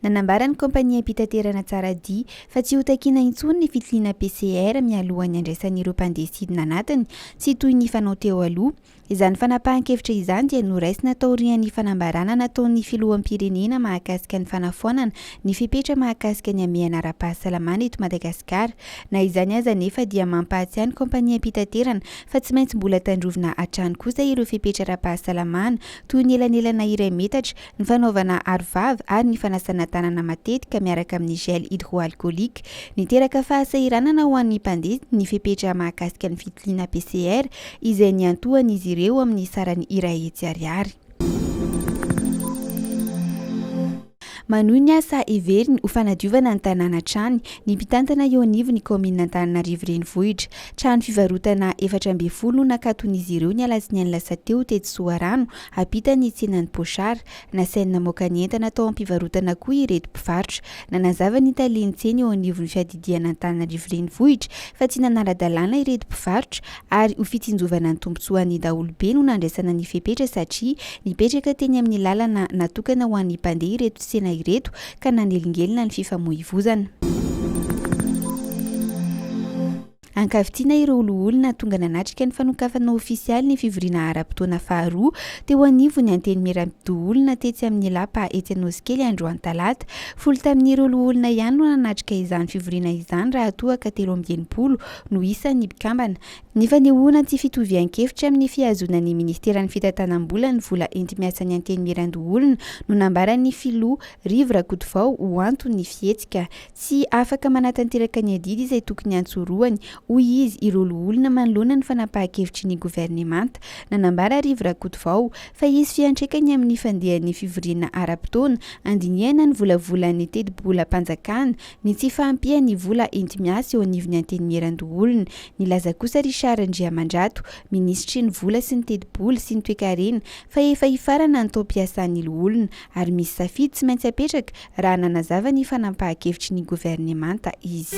Nanambara ny kaompaniam-pitaterana Tsaradia fa tsy hotakina intsony ny fitiliana PCR mialohan'ny handraisan'ireo mpandeha sidina anatiny, tsy toy ny fanao teo aloha. Izany fanapahan-kevitra izany dia noraisina taorian'ny fanambarana nataon'ny filoham-pirenena mahakasika ny fanafoanana ny fepetra mahakasika ny hamehana ara-pahasalamana eto Madagasikara. Na izany aza anefa dia mampahatsiahy ny kaompaniam-pitaterana fa tsy maintsy mbola tandrovina hatrany kosa ireo fepetra ara-pahasalamana toy ny elanelana iray metatra, ny fanaovana arovava ary ny fanasana tanana matetika miaraka amin'ny gel hydroalcoolique. Niteraka fahasahiranana ho an'ny mpandeha ny fepetra mahakasika ny fitiliana PCR izay niantohan'izy ireo amin'ny sarany iray hetsy ariary. Manohy ny asa heveriny ho fanadiovana ny tanàna hatrany ny mpitantana eo anivon'ny kaominina Antananarivo Renivohitra. Trano fivarotana efatra ambin'ny folo no nakaton'izy ireo ny alatsinainy lasa teo tetsy Soarano ampitan'ny tsenan'i Pochard. Nasainy namoaka ny entana tao am-pivarotana koa ireto mpivarotra. Nanazava ny talen'ny tsena eo anivon'ny fiadidian'Antananarivo Renivohitra fa tsy nanara-dalàna ireto mpivarotra ary ho fitsinjovana ny tombontsoan'ny daholobe no nandraisana ny fepetra satria nipetraka teny amin'ny lalana natokana ho an'ny mpandeha ireto tsena ireto ka nanelingelina ny fifamoivozana. Ankavitsiana ireo loholona tonga nanatrika ny fanokafana ofisialy ny fivoriana ara-potoana faharoa teo anivon'ny Antenimieram-pidoholona tetsy amin'ny Lapa etsy Anosikely androany talata. Folo tamin'ireo loholona ihany no nanatrika izany fivoriana izany raha toa ka telo amby enimpolo no isan' ny mpikambana. Ny fanehoana ny tsy fitovian-kevitra amin' ny fihazoana ny Ministeran' ny Fitantanam-bola ny vola enti-miasan' ny Antenimierandoholona no nambaran' ny filoha Rivo Rakotovao ho anton' ny fihetsika. Tsy afaka manatanteraka ny adidy izay tokony hantsorohany, hoy izy, ireo loholona manoloana ny fanapahan-kevitry ny governemanta. Nanambara Rivo Rakotovao fa hisy fiantraikany amin' ny fandehan' ny fivoriana ara-potoana handinihana ny volavolan' ny tetibolam-panjakana Ny tsy fahampian'ny vola enti-miasa eo anivon'ny Antenimierandoholona. Nilaza kosa Richard Andriamandrato, minisitry ny Vola sy ny tetibola sy ny toekarena fa efa hifarana ny taom-piasan'ny loholona ary misy safidy tsy maintsy apetraka raha nanazava ny fanampahan-kevitry ny governemanta izy.